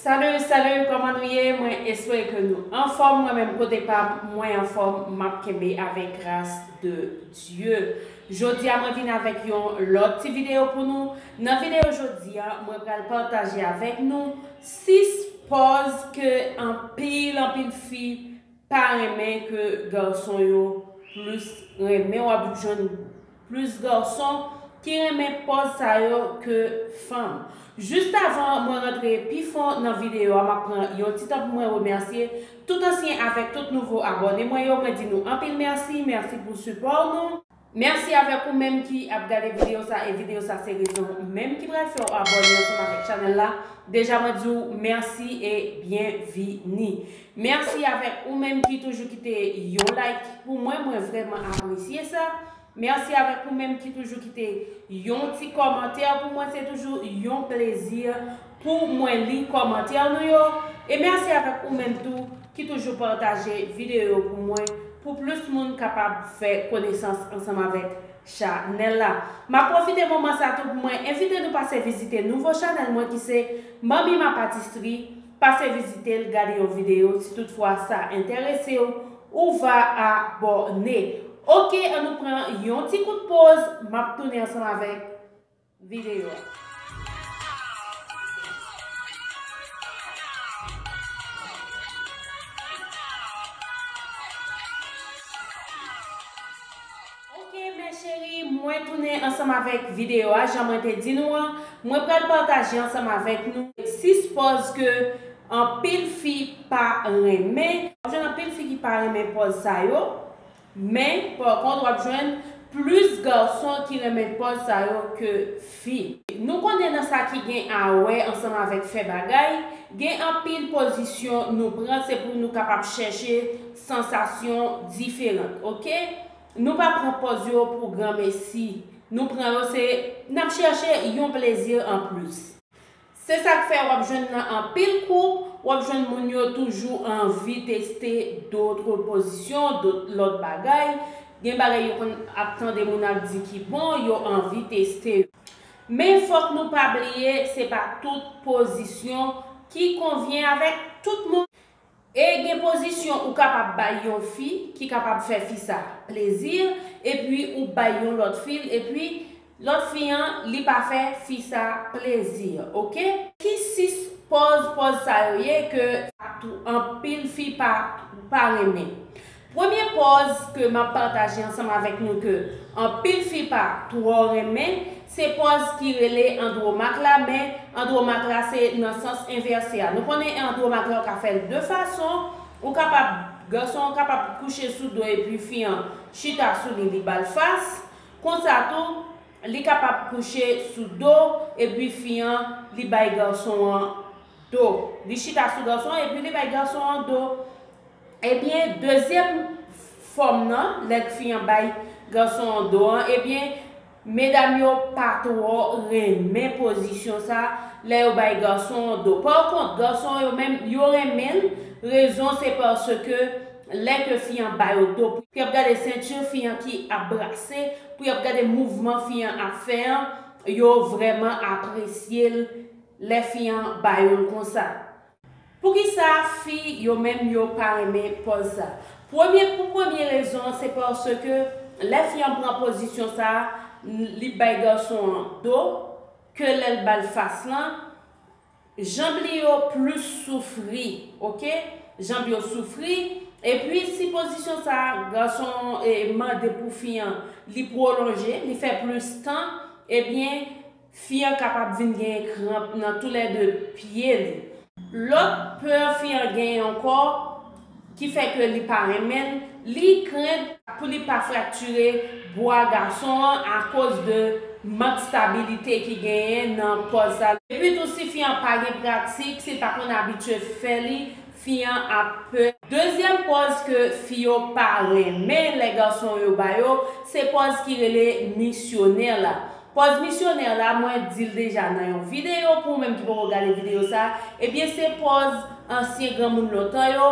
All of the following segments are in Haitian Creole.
Salut salut koman nou ye mwen espere ke nou anfom mwen menm kote pam mwen anfom map kenbe avek gras de Dye jodia mwen vin avek yon lot ti video pou nou nan video jodia mwen pral pataje avek nou 6 pòz ke anpil anpil fi pa renmen ke garson yo plus renmen wap jwenn Plus garçon ki renmen pòz sa yo ke fanm. Just avan mwen rantre pi fon nan video a map pran yon ti tan pou mwen remèsye tout ansyen avèk tout nouvo abòne mwen yo mwen di nou anpil mèsi mèsi pou sipò nou. Mèsi avèk ou menm ki ap gade video sa e video sa se rezon menm ki pral fèw abòne ansanm avèk chanèl la deja mwen diw mèsi e byenvini Merci avèk ou menm ki toujou kite yon like pou mwen mwen vrèman apresye sa merci avèk ou menm ki toujou kite yon ti kòmantè pou mwen se toujou yon plezi pou mwen li kòmantè nou yo e merci avèk ou menm tou ki toujou pataje video yo pou mwen pou plis moun kapab fè konesans ansanm avèk chanèl la map pwofite moman sa tou pou mwen envite nou pase vizite nouvo chanèl mwen ki se Manmi ma patisri Pase vizite l gade yon video si tout fwa sa enterese w ou va a bò ne. Ok an nou pran yon ti kout poz map tounen ansanm avèk video a. Ok mes cherie mwen tounen ansanm avèk video a jan mwen te di nou an mwen pral pataje ansanm avèk nou 6 pòz ke anpil fi pa renmen. Wap jwenn anpil fi ki pa renmen pòz sa yo men par kont wap jwenn plis garçon ki renmen pòz sa yo ke fi. Nou konnen nan sa ki gen a wè ansanm avèk fè bagay gen anpil pozisyon nou pran se pou nou kapab chèche sansasyon diferant ok nou pa pran pòz yo pou granmesi nou pran yo se nap chèche yon plezi an plis. Se sak fè wap jwenn nan anpil koup wap jwenn moun yo toujou anvi teste dotre pozisyon dot lòt bagay gen bagay yo konn ap tande moun ap di ki bon yo anvi teste yo men fòk nou pa bliye se pa tout pozisyon ki konvyen avèk tout moun E gen pozisyon ou kapab bay yon fi ki kapab fè fi sa plezi epi ou bay yon lòt fi l epi lòt fi an li pa fè fi sa plezi ok. Ki 6 pòz pòz sa yo ye ke tou anpil fi pa pa renmen. Premye pòz ke map pataje ansanm avèk nou ke anpil fi pa twò renmen se pòz ki rele andromak la men andromak la se nan sans envèse a nou konnen andromak la ou ka fèl de fason ou kapab gason an kapab kouche sou do epi fi an chita sou li li bal fas konsa tou li kapab kouche sou do epi fi an li bay gason an do li chita sou gason an epi li bay gason an do. Ebyen dezyèm fòm nan lè gfi an bay gason an do an ebyen medam yo pa twò renmen pozisyon sa lè yo bay gason an do pa kont gason yo menm yo renmen l rezon se paske lè ke fi an ba yo do pou yap gade sentir fi an ki ap brase pou yap gade mouvman fi an ap fè an yo vrèman apresye l lè fi an ba yo l konsa Poukisa fi yo menm yo pa renmen pòz sa? Premye pou premye rezon se paske lè fi an pran pozisyon sa li bay gason an do ke lè l ba l fas lan janb li yo plis soufri ok janb yo soufri epi si pozisyon sa gason an mande pou fi an li pwolonje li fè plis tan ebyen Fi an kapab vin genyen kranp nan tou lè 2 pye li. Lòt pè fi an genyen ankò ki fè ke li pa renmen l, li krent pou li pa fraktire bwa gason an akoz de mank stabilite ki genyen nan pòz sa. Epi tou si fi an pa gen pratik, si l pa konn abitye fè li, fi an ap pè. Dezyèm pòz ke fi yo pa renmen lè gason yo ba yo, se pòz ki rele misyonè la. Pòz misyonè la mwen dil deja nan yon video pou ou menm ki poko gade video sa ebyen se pòz ansyen granmoun lontan yo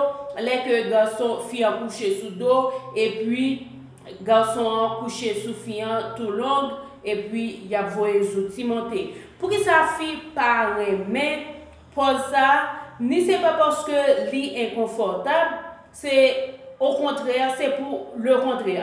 lè ke gason fi an kouche sou do epi gason an kouche sou fi an tou long epi yap voye zouti monte poukisa fi pa renmen pòz sa ni se pa paske li enkonfòtab se okontrè se pou lekontrè.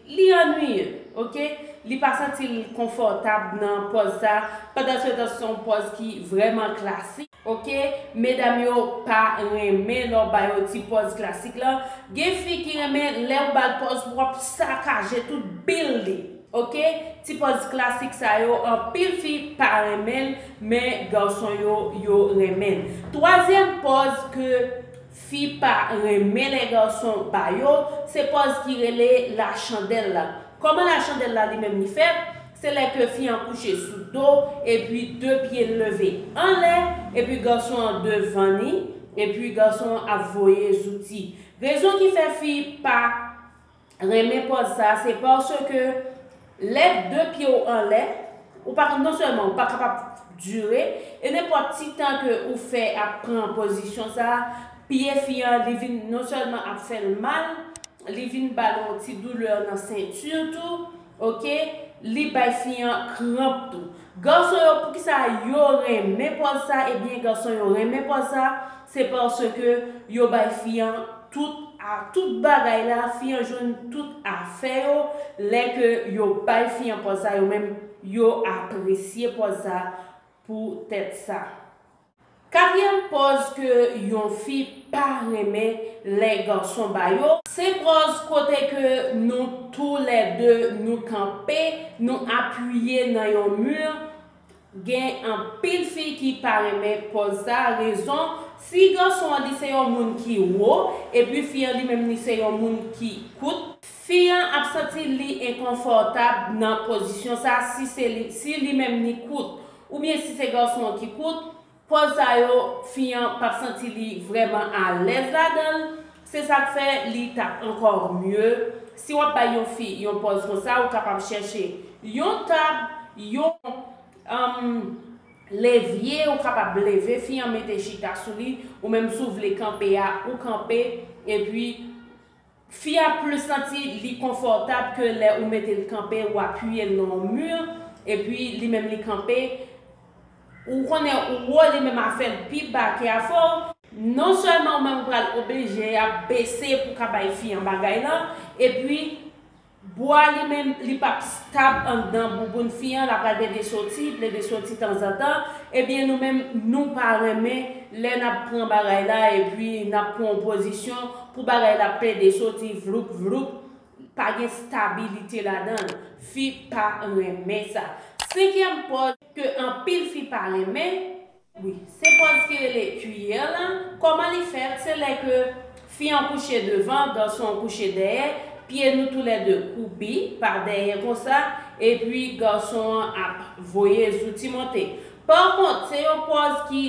Li annwiye ok li pa santil konfòtab nan pòz sa pandansetan son pòz ki vrèman klasik. Ok medam yo pa renmen lè w ba yo ti pòz klasik lan gen fi ki renmen lè ou bal pòz pou wap sakaje tout bil li ok ti pòz klasik sa yo anpil fi pa renmen l men garçon yo yo renmen l twazyèm pòz ke Fi pa renmen lè garçon ba yo, se pòz ki rele la chandèl la. Kòman la chandèl la li menm li fèt, se lè ke fi an kouche sou do epi 2 pye l leve anlè epi garçon an devan ni epi garçon an ap voye zouti. Rezon ki fè fi pa. renmen pòz sa se paske lè 2 pye w anlè ou pa non sèlman ou pa kapab dire e nenpòt ti tan ke ou fè ap pran pozisyon sa pye fi an li vin non sèlman ap fè l mal li vin ba l yon ti doulè nan senti tou Ok li bay fi an kranp tou. Garçon yo poukisa yo renmen pòz sa ebyen garçon yo renmen pòz sa se paske yo bay fi an tout a tout bagay la fi an jwenn tout afè yo lè ke yo bay fi an pòz sa yo menm yo apresye pòz sa pou tèt sa Katriyèm pòz ke yon fi pa renmen lè gason ba yo, se pòz kote ke nou tou lè 2 nou kanpe nou apiye nan yon mur gen anpil fi ki pa renmen pòz sa rezon si gason an li se yon moun ki wo epi fi an li menm li se yon moun ki kout, fi an ap santi li enkonfòtab nan pozisyon sa si se li si li menm li kout Oubyen si se gason an ki kout, pòz sa yo fi an pap santi li vrèman alèz ladan l, se sak fè li tap ankò mye si wap bay yon fi yon pòz konsa ou kapab chèche yon tab, yon um levye ou kapab leve fi an mete chita sou li ou menm si w vle kanpe a ou kanpe epi Fi a plus santi li konfòtab ke lè ou mete l kanpe ou apiye l nan yon mur epi li menm li kanpe ou konnen ou wo li menm a fè l pi ba ke afè w, non sèlman ou menm ou pral oblije ap bese pou ka bay fi an bagay lan epi. Bwa li menm li pap stab anndan bouboun fi an la pral plede soti plede soti tanzantan ebyen nou menm nou pa renmen lè nap pran bagay la epi nap pran yon pozisyon pou bagay la plede soti vloup vloup pa gen stabilite ladanl fi pa renmen sa senkyèm pòz ke anpil fi pa renmen Wi se pòz ki rele cuillère la, kòman li fèt se lè ke fi an kouche devan garçon an kouche dèyè, pye nou tou lè 2 kwoupi pa dèyè konsa epi garçon an ap voye zouti monte. Par kont se yon pòz ki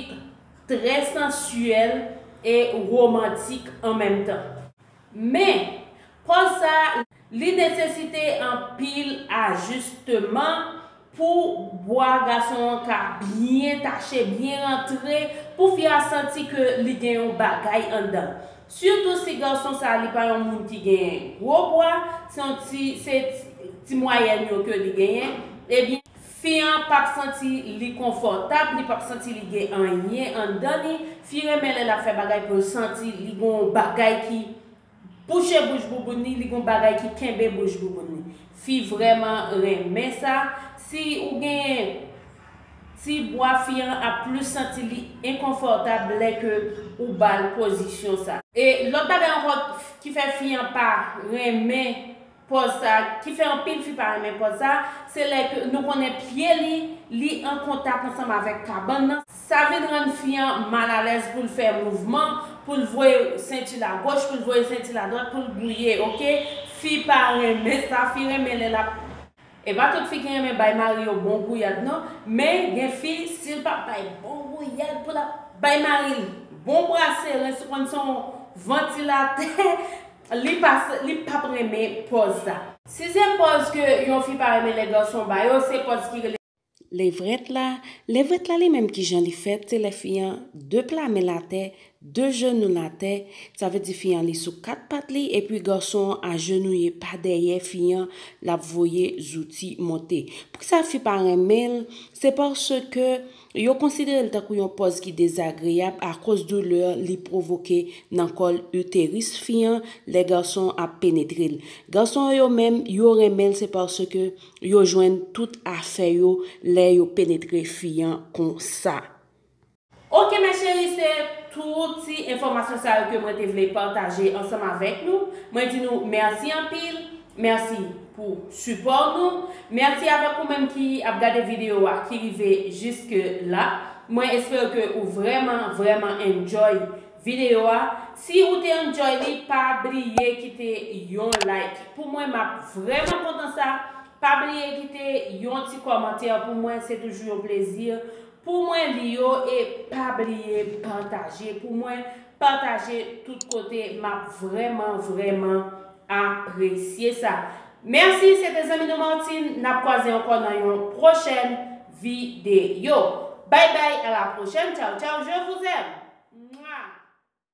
trè sensuel e romantik an menm tan. Men, pòz sa a, li nesesite anpil ajisteman pou bwa gason an ka byen tache, byen rantre, pou fi a santi ke li gen yon bagay anndan. Sitou si gason sa a li pa yon moun ki gen gwo bwa, se yon ti, se ti mwayèn yo ke li genyen, ebyen, Fi an pap santi li konfòtab, li pap santi li gen anyen anndan li, fi renmen lè lap fè bagay poul santi li gon w bagay ki bouche bouch bouboun li, li gon bagay ki kenbe bouch bouboun li. Fi vrèman renmen sa, si ou gen ti bwa fi an ap plis santi li enkonfòtab lè ke ou bal pozisyon sa. E lòt bagay ankò ki fè fi an pa renmen pòz sa ki fè anpil fi pa renmen pòz sa se lè ke nou konnen pye li li an kontak ansanm avèk kabann nan sa vin rann fi an mal alèz poul fè mouvman poul voye sentil a goch poul voye sentil a dwat poul gouye ok fi pa renmen sa fi renmen lè lap E pa tout fi ki renmen bay mari yo bon gouyad non men gen fi sil pa bay bon gouyad pou lap bay maril bon brase rens ou konn son vantilatè. Li pap renmen pòz sa. Si se pòz ke yon fi pa renmen lè gason ba yo, se pòz ki rele. Levrèt la, levrèt la li menm kijan li fèt, se lè fi an, 2 pla men l atè, 2 jenou l atè, sa vle di fi an li sou 4 pat li epi gason an ajenouye pa dèyè fi an l ap voye zouti monte. Poukisa fi pa renmen l, se paske Yo konsidere l tankou yon pòz ki dezagreyab akoz doulè li pwovoke nan kòl uterus fi an lè gason an ap penetre l. Gason yo yo menm, yo renmen l se paske yo jwenn tout afè yo lè yo penetre fi an konsa. Ok mes cheries se tout ti enfòmasyon sa yo ke mwen te vle pataje ansanm avèk nou, mwen di nou merci anpil. Merci pou support nou. Merci avèk ou menm ki ap gade video a ki rive jiske la. Mwen espere ke ou vrèman vrèman enjoy video a. Si ou te enjoy li pa bliye kite yon like pou mwen map vrèman kontan sa. Pa bliye kite yon ti kòmantè pou mwen se toujou yon plezi Pou mwen li yo e pa bliye pataje pou mwen pataje tout kote map vrèman vrèman apresye sa mèsi se te zanmi nou Martine nap kwaze ankò nan yon pwochèn videyo bay bay a la pwochèn tchaw tchaw je vous aime. Mwaa.